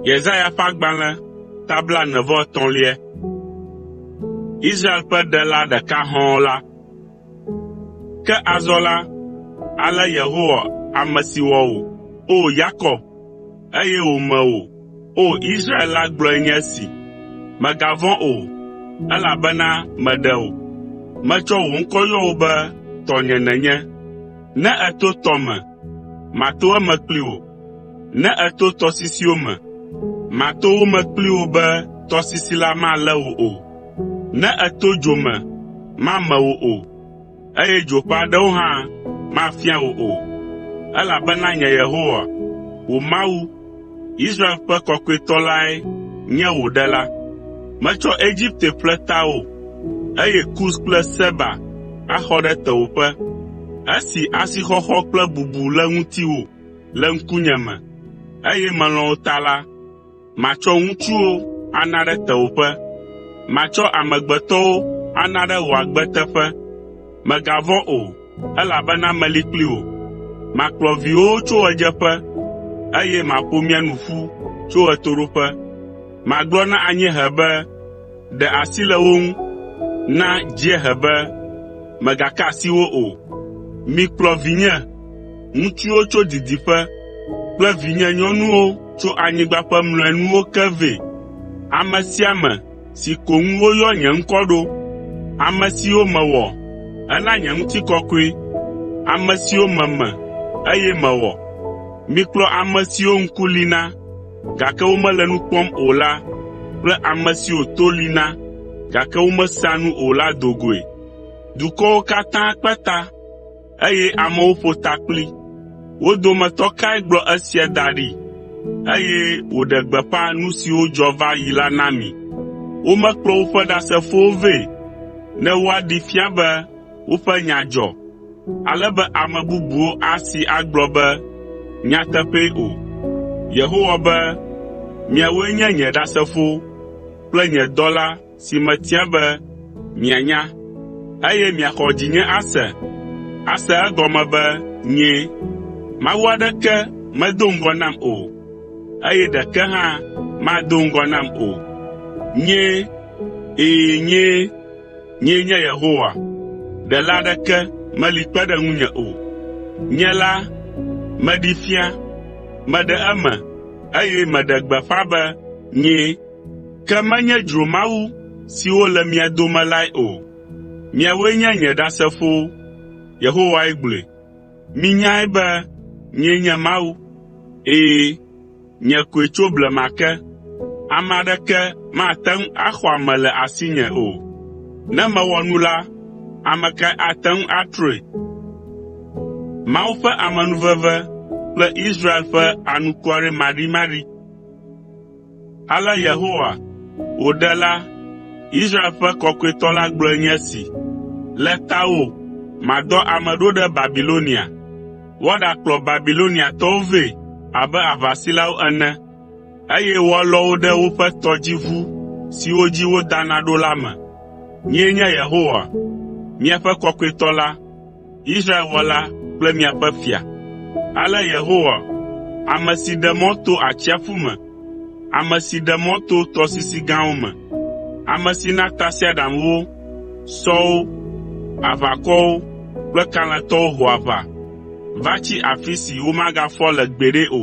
Yesaya ƒe agbalẽ ta blaene vɔ etɔ̃lia. Israel ƒe Ɖela ɖeka hɔ̃ɔ la. Ke azɔ la, ale Yehowa ame si wɔ wò, O Yakob, eye wòme wò, O Israel la gblɔe nye esi: “Mègavɔ̃ o, elabena meɖe wò. Metsɔ wò ŋkɔ yɔ wò be tɔnye nènye. Ne èto tɔ me, mato eme kpli wò, ne èto tɔsisiwo me, mato wo me kpli wò be tɔsisi la malé wò o. Ne èto dzo me, mame wò o, eye dzo ƒe aɖewo hã mafia wò o, elabena nye Yehowa, wò Mawu, Israel ƒe Kɔkɔetɔ lae nye wò Ɖela. Metsɔ Egipte ƒle tawò, eye Kus kple Seba axɔ ɖe tewòƒe. Esi asixɔxɔ kple bubu le ŋutiwò le ŋkunye me, eye melɔ̃ wò ta la, matsɔ ŋutsuwo ana ɖe tewòƒe. Matsɔ amegbetɔwo ana ɖe wò agbe teƒe. Mègavɔ̃ o, elabena meli kpli wò. Makplɔ viwòwo tso ɣedzeƒe, eye maƒo mia nu ƒu tso ɣetoɖoƒe. Magblɔ na anyiehe be, ‘Ɖe asi le wo ŋu,’ na dziehe be, ‘Mègaka asi wo o.’ Mikplɔ vinye ŋutsuwo tso didiƒe kple vinye nyɔnuwo tso anyigba ƒe mlɔenuwo ke vɛ, ame sia ame si ko ŋu woyɔ nye ŋkɔ ɖo, ame siwo mewɔ hena nye ŋutikɔkɔe, ame siwo meme, eye mewɔ. Mikplɔ ame siwo ŋku li na, gake womele nu kpɔm o la kple ame siwo to li na, gake womesea nu o la do goe.” eye amewo ƒo ta kpli. Wo dometɔ kae gblɔ esia da ɖi, eye wòɖe gbeƒã nu siwo dzɔ va yi la na mi? Womekplɔ woƒe ɖasefowo vɛ ne woaɖee fia be woƒe nya dzɔ, ale be ame bubuwo asi agblɔ be, “Nyateƒee” o. Yehowa be, “Miawoe nye nye ɖasefowo kple nye dɔla si metia be mianya, eye miaxɔ dzinye ase, ase egɔme be nyee. Mawu aɖeke medo ŋgɔ nam o, eye ɖeke hã mado ŋgɔ nam o. Nyee, ɛ̃, nyee. Nyee nye Yehowa, ɖela aɖeke meli kpe ɖe ŋunye o. Nye la, meɖee fia, meɖe eme, eye meɖe gbeƒã be nyee.” Ke menye dzromawu siwo le mia dome lae o. Miawoe nye nye Ɖasefowo.” Yehowae gblɔe. “Minyae be nyee nye Mawu. Ɛ̃, nye koe tso blema ke. Ame aɖeke mate ŋu axɔ ame le asinye o. Ne mewɔ nu la, ame kae ate ŋu atrɔe?” Ale Yehowa, wò Ɖela, Israel ƒe Kɔkɔetɔ la gblɔe nye esi, “Le tawò madɔ ame ɖo ɖe Babilonia, woaɖakplɔ Babiloniatɔwo vɛ abe aʋasilawo ene, eye woalɔ wo ɖe woƒe tɔdziʋu siwo dzi wodana ɖo la me. Nyee nye Yehowa, miaƒe Kɔkɔetɔ la. Israel Wɔla kple miaƒe Fia. Ale Yehowa, ame si ɖe mɔ to atsiaƒu me, ame si ɖe mɔ to tɔsisi gãwo me, ame si na tasiaɖamwo, sɔwo, aʋakɔwo kple kalẽtɔwo ho aʋa va tsi afi si womagafɔ le gbeɖe o,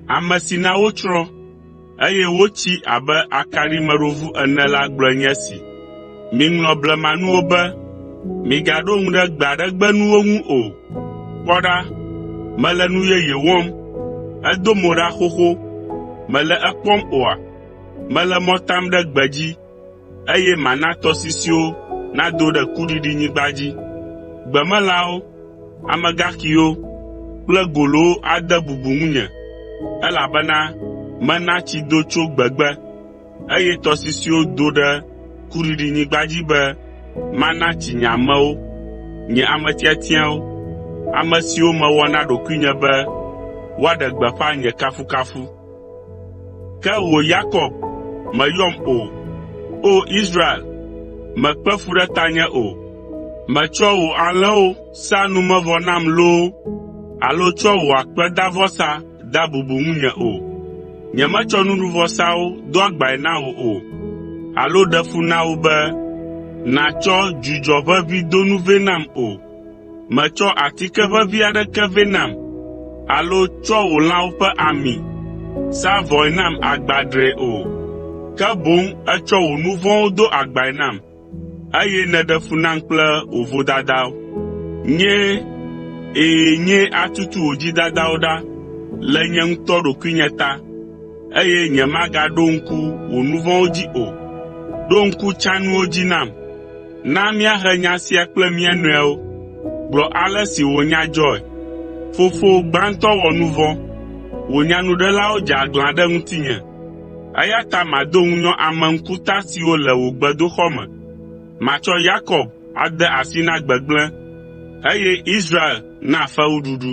ame si na wotsrɔ̃, eye wotsi abe akaɖimeɖovu ene la gblɔe nye esi, “Miŋlɔ blemanuwo be, migaɖo ŋu ɖe gbe aɖe gbe nuwo ŋu o. Kpɔ ɖa, mele nu yeye wɔm. Edo mo ɖa xoxo. Mèle ekpɔm oa? Mele mɔ tam ɖe gbedzi. eye mana tɔsisiwo nado ɖe kuɖiɖinyigba dzi. Gbemelãwo, amegaxiwo kple golowo ade bubu ŋunye, elabena mena tsi do tso gbegbe, eye tɔsisiwo do ɖe kuɖiɖinyigba dzi be mana tsi nye amewo, nye ame tiatiawo, ame siwo mewɔ na ɖokuinye be woaɖe gbeƒã nye kafukafu. Ke wò Yakob, mèyɔm o. O Israel, mèkpe fu ɖe tanye o. Mètsɔa wò alẽwo saa numevɔ nam loo alo tsɔa wò akpedavɔsa dea bubu ŋunye o. Nyemetsɔ nuɖuvɔsawo do agbae na wò o alo ɖe fu na wo be nàtsɔ dzudzɔ ʋeʋĩ do nu vɛ nam o. Mètsɔ atike ʋeʋĩ aɖeke vɛ nam alo tsɔ wò lãwo ƒe ami sa vɔe nam agbadree o, ke boŋ ètsɔ wò nu vɔ̃wo do agbae nam, eye nèɖe fu nam kple wò vodadawo. Nyee, ɛ̃, nyee atutu wò dzidadawo ɖa le nye ŋutɔ ɖokuinye ta, eye nyemagaɖo ŋku wò nu vɔ̃wo dzi o. Ɖo ŋku tsãnuwo dzi nam. Na míahe nya sia kple mía nɔewo. Gblɔ ale si wò nya dzɔe. Fofowò gbãtɔ wɔ nu vɔ̃. Wò nyanuɖelawo dze aglã ɖe ŋutinye, eya ta mado ŋunyɔ ame ŋkuta siwo le wò gbedoxɔ me. Matsɔ Yakob ade asi na gbegblẽ, eye Israel na fewuɖuɖu.”